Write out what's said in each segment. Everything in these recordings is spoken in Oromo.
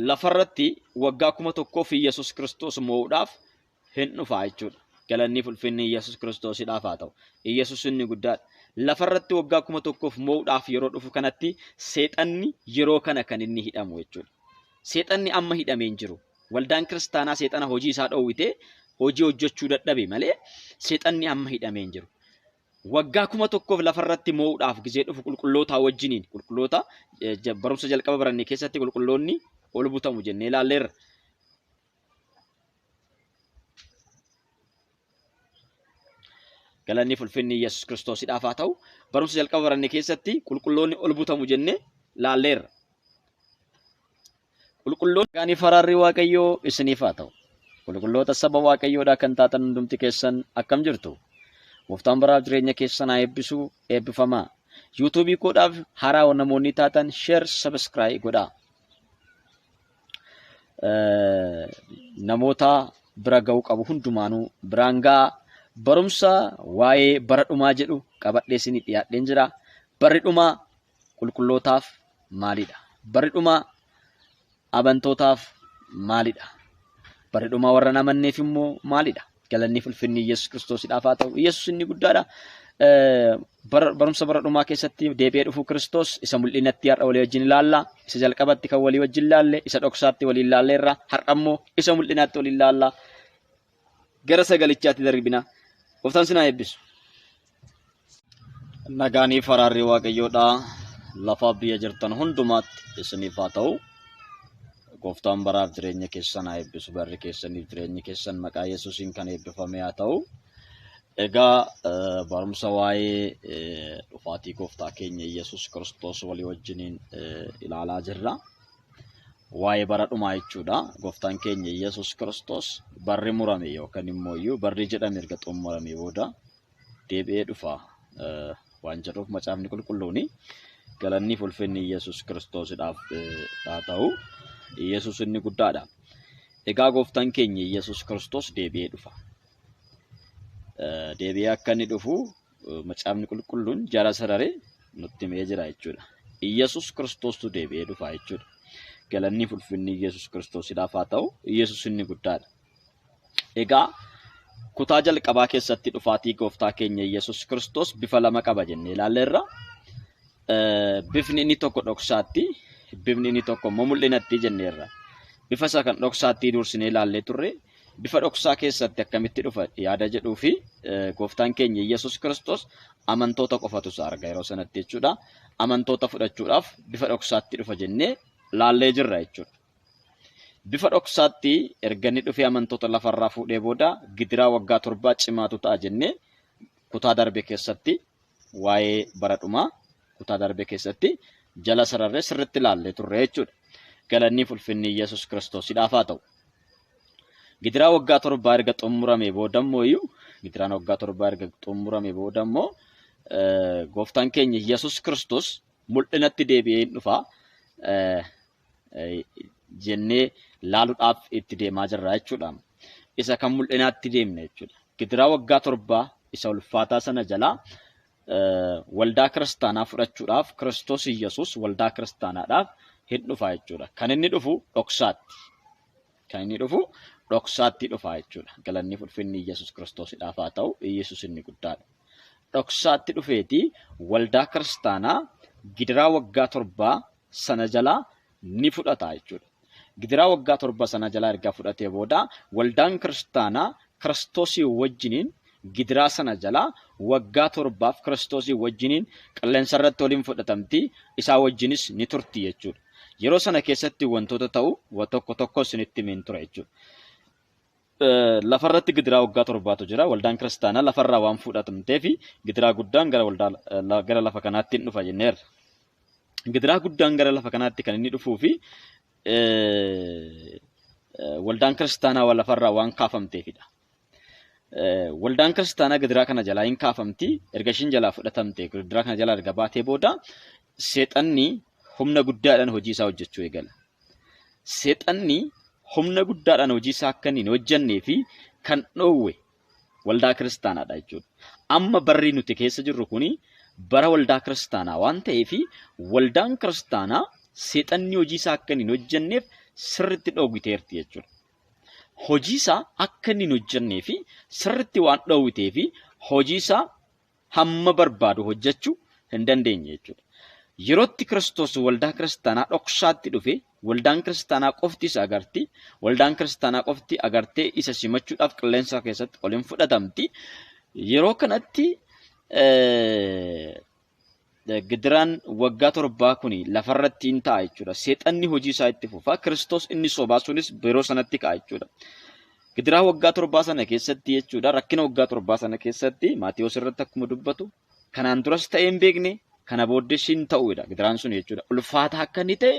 lafarratti waggaa kuma tokkoo fi Yesus Kiristoos moo'uudhaaf hin dhufaa jechuudha. Galanni ulfinni Yesus Kiristoosidhaaf haa ta'u. Yesus inni guddaadha. Lafarratti waggaa kuma tokkoof moo'uudhaaf yeroo dhufu kanatti seexanni yeroo kana kan inni hidhamu jechuudha. Seexanni amma hidhamee hin jiru. Waldaan kiristaanaa seexana hojii isaa dhoowwitee hojii hojjechuu dadhabe malee seexanni amma hidhamee hin jiru. Waggaa kuma tokkoof lafa irratti moo'uudhaaf gizee dhufu qulqullootaa wajjiniin qulqulloota barumsa jalqaba baranne keessatti qulqulloonni ol butamu jennee ilaalleerra. Galanni fulfinni Yesuus Kiristoosidhaaf haa ta'u barumsa jalqaba baranne keessatti qulqulloonni ol butamu jennee ilaalleerra. Qulqulloota gaanii faraarri Waaqayyoo isiniif haa ta'u. Qulqulloota saba Waaqayyoodhaa kan taatan hundumti keessan akkam jirtu? Gooftaan baraaf jireenya keessan haa eebbisu eebbifamaa. Yuutuubii koodhaaf haaraa namoonni taatan sheer sabiskiraayii godhaa. Namoota bira ga'uu qabu hundumaanuu biraan ga'a. Barumsa waa'ee bara dhumaa jedhu qabadhee isinii dhiyaadheen jira. Barri dhumaa qulqullootaaf maalidha? Barri dhumaa abantootaaf maalidha? Barri dhumaa warra namanneef immoo maalidha? Galanni ulfinni Yesuus Kiristoosidhaaf haa ta'u. Yesuus inni guddaadha. Barumsa bara dhumaa keessatti deebi'ee dhufuu Kiristoos isa mul'inatti har'a walii wajjin ilaalla. Isa jalqabatti kan walii wajjin ilaalle, isa dhoksaatti walii ilaalleerra. Har'a immoo isa mul'inaatti walii ilaalla. gara sagalichaatti darbina. Gooftaan sinaa eebbisu. Nagaanii faraarri waaqayyoodhaa lafaa biyya jirtan hundumaatti isiniif haa ta'u. Gooftaan baraaf jireenya keessan haa eebbisu. Barri keessaniif jireenyi keessan maqaa Yesuusiin kan eebbifame haa ta'u. Egaa eh, barumsa waa'ee eh, dhufaatii gooftaa keenya Yesuus Kiristoos walii wajjiniin eh, ilaalaa jirra. waa'ee bara dhumaa jechuudha. Gooftaan keenya Yesuus Kiristoos barri murame yookaan immoo iyyuu barri jedhame erga xumuramee booda deebi'ee dhufa waan jedhuuf macaafni qulqulluun galanni fi ulfinni Yesuus Kiristoosidhaaf haa ta'u. Yesuus inni guddaadha. Egaa gooftaan keenya Yesuus Kiristoos deebi'ee dhufa. Deebi'ee akka inni dhufu macaafni qulqulluun jara sararee nutti himee jira jechuudha. Iyyasuus Kiristoostu deebi'ee dhufa jechuudha. Galanni ulfinni Iyyasuus Kiristoosidhaaf haa ta'u, Iyyasuus inni guddaadha. Egaa kutaa jalqabaa keessatti dhufaatii gooftaa keenya Iyyasuus Kiristoos bifa lama qaba jennee ilaalleerra. Bifni inni tokko dhoksaatti, bifni inni tokko immoo mul'inatti jenneerra. Bifa isaa kan dhoksaatti duursinee ilaallee turre. Bifa dhoksaa keessatti akkamitti dhufa yaada jedhuu fi gooftaan keenya Yesuus Kiristoos amantoota qofatu isaa arga yeroo sanatti jechuudha. Amantoota fudhachuudhaaf bifa dhoksaatti dhufa jennee laallee jirra jechuudha. Bifa dhoksaatti erga inni dhufee amantoota lafarraa fuudhee booda gidiraa waggaa torbaa cimaatu ta'a jennee kutaa darbe keessatti waa'ee bara dhumaa kutaa darbe keessatti jala sararree sirritti ilaallee turre jechuudha. Galanniif ulfinni Yesus Kiristoosidhaaf haa ta'u. Gidiraa waggaa torbaa erga xumuramee booda immoo iyyuu gidiraan waggaa torbaa erga xumuramee booda immoo gooftaan keenya Yesus Kiristoos mul'inatti deebi'ee hin dhufa. jennee laaluudhaaf itti deemaa jirra jechuudha. Isa kan mul'inaatti deemne jechuudha. Gidiraa waggaa torbaa isa ulfaataa sana jalaa waldaa kiristaanaa fudhachuudhaaf Kiristoos Iyyasuus waldaa kiristaanaadhaaf hin dhufa jechuudha. Kan inni dhufu dhoksaatti. Kan inni dhufu dhoksaatti dhufa jechuudha. Galanni ulfinni Iyyasuus Kiristoosidhaaf haa ta'u Iyyasuus inni guddaadha. Dhoksaatti dhufeeti waldaa kiristaanaa gidiraa waggaa torbaa sana jalaa ni fudhata jechuudha. Gidiraa waggaa torba sana jalaa erga fudhatee booda waldaan kiristaanaa kiristoosii wajjiniin gidiraa sana jalaa waggaa torbaaf kiristoosii wajjiniin qilleensa irratti waliin fudhatamti isaa wajjinis ni turti jechuudha. Yeroo sana keessatti wantoota ta'u wa tokko tokko isinitti himin ture jechuudha. Lafarratti gidiraa waggaa torbaatu jira. Waldaan kiristaanaa lafarraa waan fuudhatamteef gidiraa guddaan gara waldaa gara lafa kanaatti hin dhufa jenneerra. Gidiraa guddaan gara lafa kanaatti kan inni dhufuu fi waldaan kiristaanaa lafarraa waan kaafamteefidha. Waldaan kiristaanaa gidiraa kana jalaa hin kaafamti. Erga ishiin jalaa fudhatamte gidiraa kana jalaa erga baatee booda seexanni humna guddaadhaan hojii isaa hojjechuu eegala. Seexanni humna guddaadhaan hojii isaa akka inni hin hojjennee fi kan dhoowwe waldaa kiristaanaadha jechuudha. Amma barri nuti keessa jirru kuni bara waldaa kiristaanaa waan ta'eef waldaan kiristaanaa seexanni hojii isaa akka inni hin hojjenneef sirriitti dhoowwiteerti jechuudha. Hojii isaa akka inni hin hojjennee fi sirriitti waan dhoowwitee fi hojii isaa hamma barbaadu hojjechuu hin dandeenye jechuudha. Yerootti Kiristoos waldaa kiristaanaa dhoksaatti dhufe, waldaan kiristaanaa qofti isa agarti, waldaan kiristaanaa qofti agartee isa simachuudhaaf qilleensa keessatti ol hin fudhatamti. Yeroo kanatti Gidiraan waggaa torbaa kuni lafarratti in ta'a jechuudha. Seexanni hojii isaa itti fufa. Kiristoos inni sobaa sunis yeroo sanatti ka'a jechuudha. Gidiraa waggaa torbaa sana keessatti jechuudha. Rakkina waggaa torbaa sana keessatti Maatiyoos irratti akkuma dubbatu kanaan duras ta'ee hin beekne kana booddee siin ta'uudha gidiraan sun jechuudha. Ulfaataa akka inni ta'e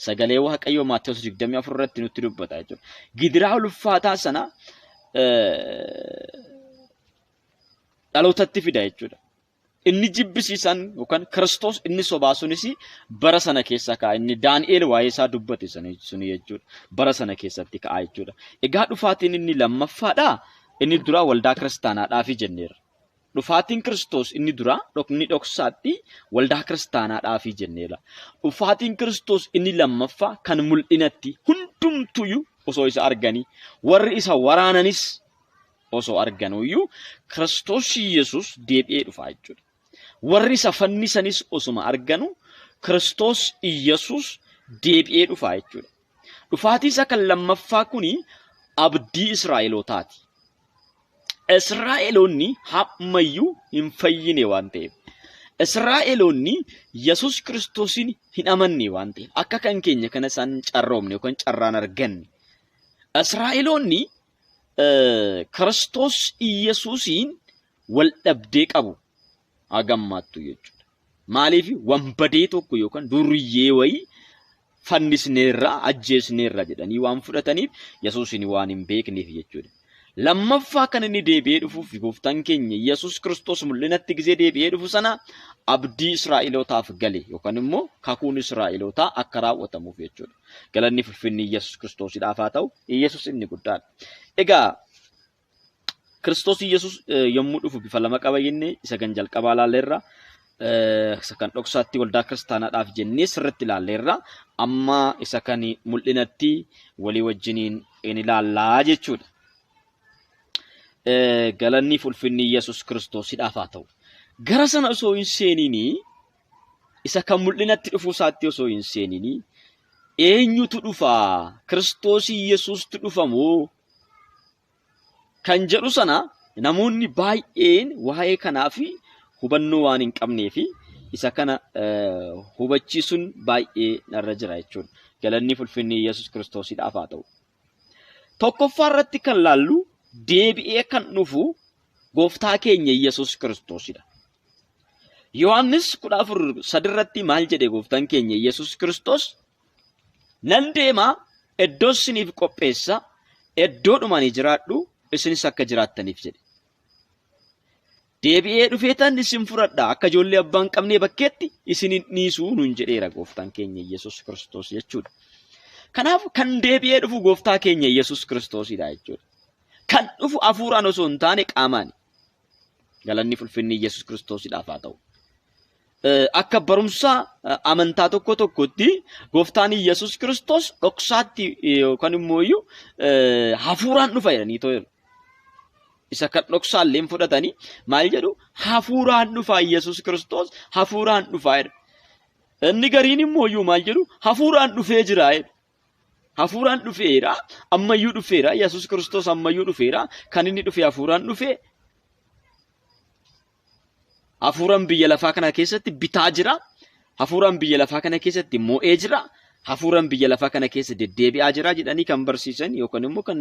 sagalee Waaqayyoo Maatiyoos 24 irratti nutti dubbata jechuudha. Gidiraa ulfaataa sana dhalootatti fida jechuudha. Inni jibbisiisan yookaan Kiristoos inni sobaa sunis bara sana keessa ka'a. Inni Daani'eel waa'ee isaa dubbate suni jechuudha. Bara sana keessatti ka'a jechuudha. Egaa dhufaatiin inni lammaffaadha. Inni duraa waldaa kiristaanaadhaafi jenneerra. Dhufaatiin Kiristoos inni duraa inni dhoksaatti waldaa kiristaanaadhaafi jenneerra. Dhufaatiin Kiristoos inni lammaffaa kan mul'inatti hundumtuyyuu osoo isa arganii warri isa waraananis osoo arganuu iyyuu Kiristoos Yesuus deebi'ee dhufa jechuudha. Warri isa fannisanis osuma arganu Kiristoos Yesuus deebi'ee dhufa jechuudha. Dhufaatii isa kan lammaffaa kuni abdii Israa'elootaati. Israa'eloonni hammayyuu hin fayyine waan ta'eef. Israa'eloonni Yesuus Kiristoosiin hin amanne waan ta'eef. Akka kan keenya kana isaan carroomne yookaan carraan arganne. Israa'eloonni Kiristoos Iyyasuusiin wal dhabdee qabu hagammaattu jechuudha. Maaliif wanbadee tokko yookaan duriyyee wayii fannisneerra ajjeesneerra jedhanii waan fudhataniif Yesuusiin waan hin beekneef jechuudha. Lammaffaa kan inni deebi'ee dhufuuf gooftaan keenya Yesuus Kiristoos mul'inatti gisee deebi'ee dhufu sana abdii Israa'elootaaf gale yookaan immoo kakuun Israa'elootaa akka raawwatamuuf jechuudha. Galanni fulfinni Iyyasuus Kiristoosidhaaf haa ta'u, Iyyasuus inni guddaadha. Egaa Kiristoos Iyyasuus yommuu dhufu bifa lama qaba jenne isa kan jalqabaa ilaalleerra. Isa kan dhoksaatti waldaa kiristaanaadhaaf jennee sirriitti ilaalleerra. Amma isa kan mul'inatti walii wajjiniin in ilaallaa jechuudha. Galanni fulfinni Iyyasuus Kiristoosidhaaf haa ta'u. Gara sana osoo hin seeniinii isa kan mul'inatti dhufuu isaatti osoo hin seenini eenyutu dhufa kiristoosii yesuustu dhufa moo kan jedhu sana namoonni baay'een waa'ee kanaaf hubannoo waan hin qabnee fi isa kana hubachiisuun baay'ee narra jira jechuudha. Galanni fulfinni Yesuus Kiristoosidhaaf haa ta'u. Tokkoffaa irratti kan laallu deebi'ee kan dhufu gooftaa keenya Yesuus Kiristoosidha. Yohaannis 14:3 irratti maal jedhe gooftaan keenya Yesuus Kiristoos? Nan deema iddoo isiniif qopheessa iddoodhuma ani jiraadhu isinis akka jiraattaniif jedhe. Deebi'ee dhufeetan isin fudhadha, akka ijoollee abbaa hin qabnee bakkeetti isin hin dhiisu nuun jedheera gooftaan keenya Yesuus Kiristoos jechuudha. Kanaaf kan deebi'ee dhufu gooftaa keenya Yesuus Kiristoosidha jechuudha. Kan dhufu hafuuraan osoo hin taane qaamaani. Galanni fulfinni Yesuus Kiristoosidhaaf haa ta'u. Eh, Akka barumsa eh, amantaa tokko tokkotti gooftaan Yesuus Kiristoos dhoksaatti eh, yookaan immoo iyyuu eh, hafuuraan dhufa jedhanii too jedhu. isa kan dhoksaallee hin fudhatanii maal jedhu hafuuraan dhufaa Yesuus Kiristoos hafuuraan dhufaa jedha. Inni gariin immoo iyyuu maal jedhu hafuuraan dhufee jira jedhu. Hafuuraan dhufeera ammayyuu dhufeera Yesuus Kiristoos ammayyuu dhufeera kan inni dhufe hafuuraan dhufe Hafuuraan biyya lafaa kana keessatti bitaa jira. Hafuuraan biyya lafaa kana keessatti mo'ee jira. Hafuuraan biyya lafaa kana keessa deddeebi'aa jira jedhanii kan barsiisan yookaan immoo kan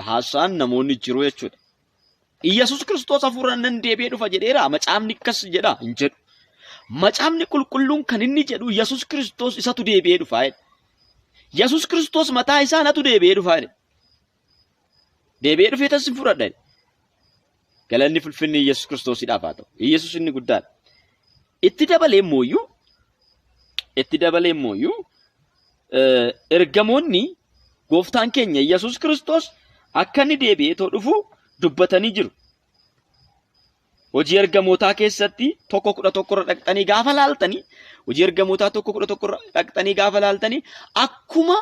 haasa'an namoonni jiru jechuudha. Iyyasuus Kiristoos hafuuraan nan deebi'ee dhufa jedheera. Macaafni akkas jedha hin jedhu. Macaafni qulqulluun kan inni jedhu Iyyasuus Kiristoos isatu deebi'ee dhufa jedha. Yesuus Kiristoos mataa isaa natu deebi'ee dhufa jedha. Deebi'ee dhufee tan sin fudhadha. Galanni fulfinni Yesus Kiristoosidhaaf haa ta'u. Yesus inni guddaadha. Itti dabalee mooyyuu itti dabalee mooyyuu ergamoonni gooftaan keenya Yesus Kiristoos akka inni deebi'ee too dhufu dubbatanii jiru. Hojii ergamootaa keessatti tokko kudha tokkorra dhaqxanii gaafa laaltanii hojii ergamootaa tokko kudha tokkorra dhaqxanii gaafa laaltanii akkuma